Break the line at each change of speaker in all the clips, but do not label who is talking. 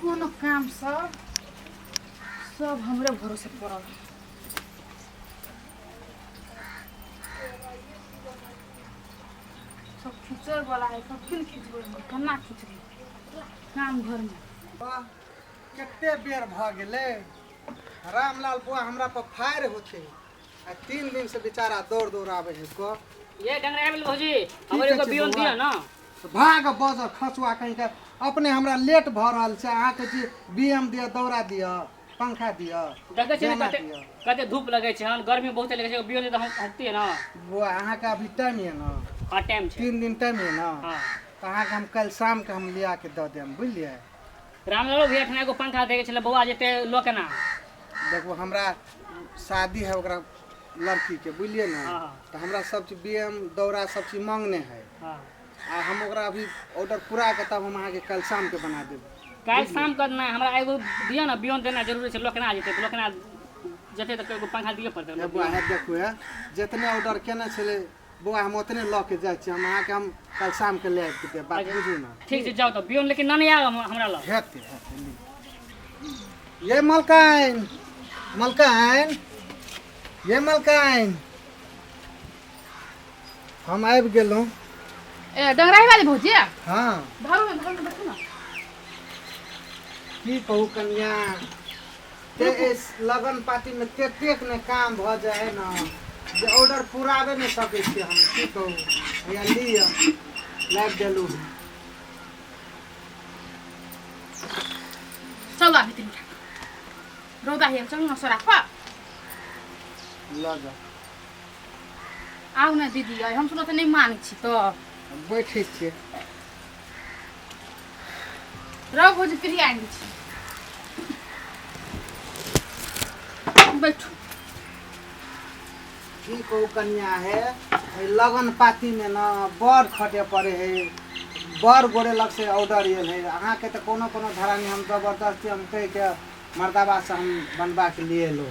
कोनो काम सब सब हमरे भरोसे पड़ल सब खींचे वाला है सब किन खींचबै हम केना खींचबै काम घरमे वाह
कते बेर भऽ गेलै रामलाल बुआ हमरा पर फायर होते आ तीन दिन से बेचारा दौड़ दौड़ आवे है को ये डंगरा मिल
भौजी हमर एगो बियन दिया ना तो भाग बज
खसुआ कहीं के अपने हमरा लेट भ रहल छै अहाँ के जी बीएम दिया दौड़ा दिया पंखा दिया देखे छी कते
कते धूप लगे छै हन गर्मी बहुत लगे छै बियन तो हम हटती ना वो अहाँ के अभी
टाइम है ना हां टाइम छै तीन दिन
टाइम है ना हां
तो अहाँ के हम
कल
शाम के हम लिया के द देम बुझलिए रामलालो
भैया ठना एगो पंखा देखे छले बौआ जेते लो केना देखो
हमरा शादी है ओकरा लड़की के बुझलिए ना हाँ, हाँ। तो हमरा सब
चीज
बीएम दौरा सब चीज मांगने है हां आ
हम ओकरा
अभी ऑर्डर पूरा के तब हम अहाँ के कल शाम के बना देब काल शाम करना
है, हमरा एगो दियो ना बियन देना जरूरी छै लो केना जेते लो केना जेते त एगो पंखा दिए पड़ते ए बुआ है देखो है
जितने ऑर्डर केने छले बौआ हम ओतने लऽ के जाइ छी हम अहाँके हम कल शाम के ले आबि के देब बात बुझू ना ठीक छै जाउ तऽ बियन लेकिन
नन आयब हम- हमरा लग हेतै हेतै ली।
ये मलकाइन मलकाइन ये मलकाइन हम आबि गेलहुँ ए
डंगराही वाली भौजी है हँ धरू ने धरू
ने
देखू ना
की कहू कनिया ते एहि लगन पाती में तेतेक ने काम भ जाय है न जे ऑर्डर पुराबे ने सके छी हम की कहू हैया लिय लाइब देलू हन
चलू आबि तीन रौदा हेल चलू न सोरा खा
ल जा
आउ ने दीदी अइ हम सुनत नहि मानै छी तऽ बैठे छियै रह भोज फ्री आइन छी बैठू
की कहू कन्या है एहि लगन पातीमे ने बड़ खटे पड़े है बड़ गोरे लग से ऑर्डर आयल है अहाँके तऽ कोनो कोनो धरानी हम जबरदस्ती हम कहिके मर्दाबासँ हम बनबाके लिए एलहुँ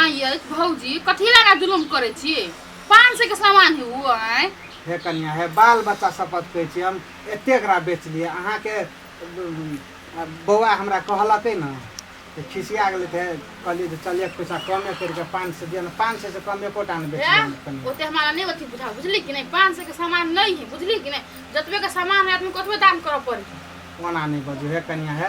आ ये भौजी कथी लगा जुलुम करे छी पाँच सौ के सामान है वो आए हे कन्या हे
बाल बच्चा शपथ कहै छी हम एतेक रा बेचलिए अहाँके उम, आ बौआ हमरा कहलकै ने तऽ खिसिया गेलै तऽ कहलियै जे चल एक पैसा कमे करि कऽ पाँच सए दिअ ने पाँच सए से कम एकोटा नहि बेचलिए हम कन्या ओते हमारा नहीं अथी बुझा
बुझली कि नहीं पाँच सौ के सामान नहीं है बुझली कि नहीं जतबे के सामान है आदमी को ओतबे दाम करऽ पड़ी ओना नहि बजू
हे कन्या हे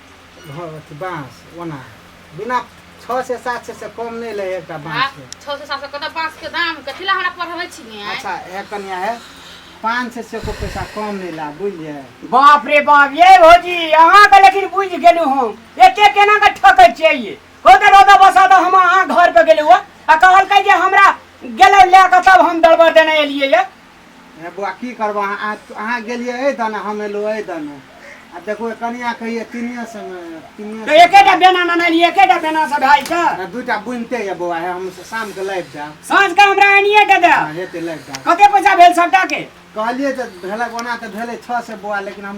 बाँस ओना बिना छओ से सात सए से कम नहि लै एकटा बाँस छओ से सात सए कतऽ बाँस के दाम कथी लए हमरा पढ़बै छी
अच्छा ए कनिया है
पाँच सए से को पैसा कम नहि ला बुझलियै बाप रे बाप
ये भौजी अहाँ के लेकिन बुझ गेलू हम एते केना के ठकै छियै ये हो तऽ रोदा बसा तऽ हम अहाँ घर पे गेलू आ कहलकै जे हमरा गेलै लए कऽ तब हम दलबर देने एलियै ये हे बौआ की
करबह अहाँ अहाँ गेलियै एहि दने हम एलहुँ एहि दने आ देखू कनिया कहियै तीनिए सङ्गे तीनिए तो एकेटा
बेना ननैली एकेटा बेना से भाई के आ दूटा बुनिते यऽ
बौआ हे हम शामके लाबि देब साँझ के हमरा आनिए
के दे हँ हेतै लाबि देब कते
पैसा भेल सबटा
के कहलियै जे भेलक
ओना तऽ भेलै छओ सए बौआ लेकिन हम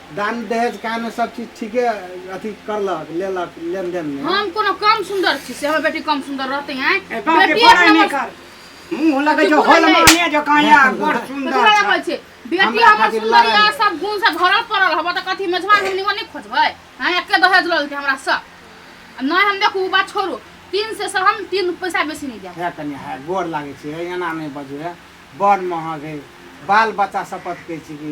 दान दहेज का में सब चीज ठीके अथी करलक लेलक लेन देन में हम कोनो कम सुंदर
छी से हमर बेटी कम सुंदर रहते हैं ए, गाँव के बेटी एक बड़ा नंबर
निकर मुंह लगे जो होल माने जो काया बड़ कथी सुंदर लगा छै। बोल छै बेटी
हमरा हमर खातिर सुंदर लड़ाई। या सब गुण से भरल पड़ल हबो त कथी मेजबान हम निमन नहि खोजबै हां एके दहेज लल के हमरा सब आ नहि हम देखू उ बात छोड़ू तीन से से हम तीन पैसा बेसी नहि देब है कन्या है गोर
लागे छै एना नहीं बजू है बड़ महग है बाल बच्चा शपथ कहै छी कि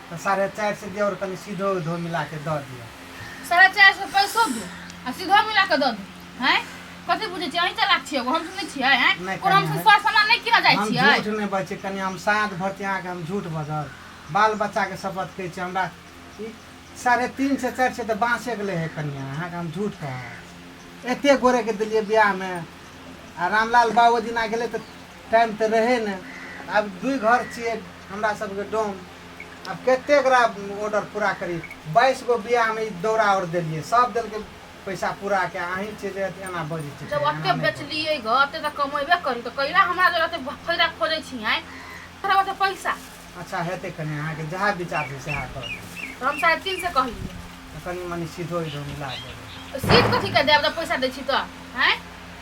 तऽ साढ़े चारि सए दिअ आओर कनि सीधो धो मिला कऽ दऽ दिअ साढ़े चारि सए पैसो दू आ
सीधो मिला कऽ दऽ दू हैं कथी बुझै छियै अहीं चलाक छियै एगो हम सुनै छियै हैं नहि, कोनो हम कनिया, सुसवा सामान
नहि
किनऽ जाइ हम छियै झूठ नहि बजै छी
कनि
हम
साँझ भर छी अहाँके हम झूठ बजल बाल बच्चाके शपथ कहै छी हमरा ई साढ़े तीन सए चारि सए तऽ बाँसेके लै हइ कनिया अहाँके हम झूठ कहब एतेक गोरेके देलियै बियाहमे आ रामलाल बाबू दिना गेलै तऽ टाइम तऽ रहै ने आब दुइ घर छियै हमरा सबके डोम आब कते गोरा ऑर्डर पूरा करी बाइस गो बियाहमे ई दौरा आओर देलियै सब देलकै पैसा पूरा के अहीं छियै जे एना बजै छै जब ओते बेचलियै
घर ओते तऽ कमेबे करी तऽ कैला हमरा जे ओते फायदा खोजै छी आइ तोरा ओते पैसा अच्छा हेतै कनि
अहाँके जहाँ विचार छै सएह कर तऽ हम साढ़े तीन
से कहलियै कनि मनि
सीधो इधो मिला देबै सीट कथी के
देब जब पैसा दै छी तऽ हैं